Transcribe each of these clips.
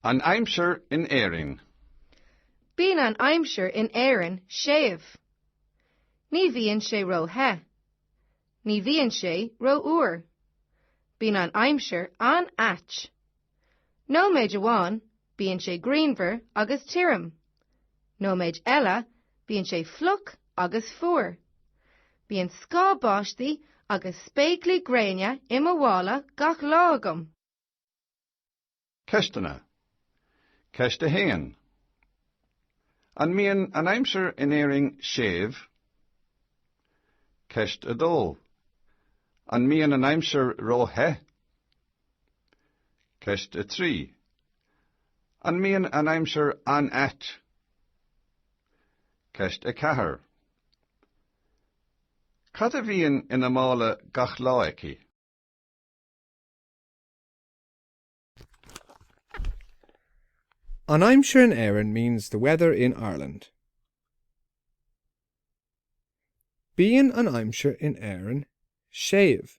An aimsir in Éirinn. Bíonn an aimsir in Éirinn séimh. Ní bhíonn sé ró-the. Ní bhíonn sé ró-fhuar. Bíonn an aimsir an-ait. Nóiméid amháin, bíonn sé grianmhar agus tirim. Nóiméid eile, bíonn sé fliuch agus fuar. Bíonn scáth báistí agus spéaclaí gréine i mo mhála gach lá agam. Ceisteanna. Ceist 1 An mbíonn an aimsir in Éirinn séimh? Ceist 2 An mbíonn an aimsir ró-the? Ceist 3. An mbíonn an aimsir an-ait? Ceist 4. Cad a bhíonn ina mála gach lá aici? An aimsir in Éirinn means the weather in Ireland. Bíonn an aimsir in Éirinn séimh.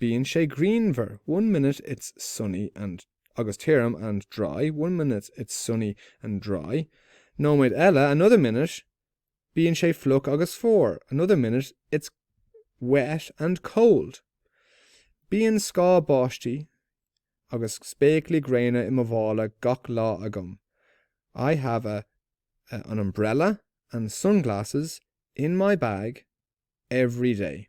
Bíonn sé grianmhar, one minute it's sunny and agus tirim, and dry, one minute it's sunny and dry, nóiméid eile, another minute bíonn sé fliuch agus fuar, another minute it's wet and cold. Bíonn scáth báistí agus spéaclaí gréine i mo mhála gach lá agam, I have a, a, an umbrella and sunglasses in my bag every day.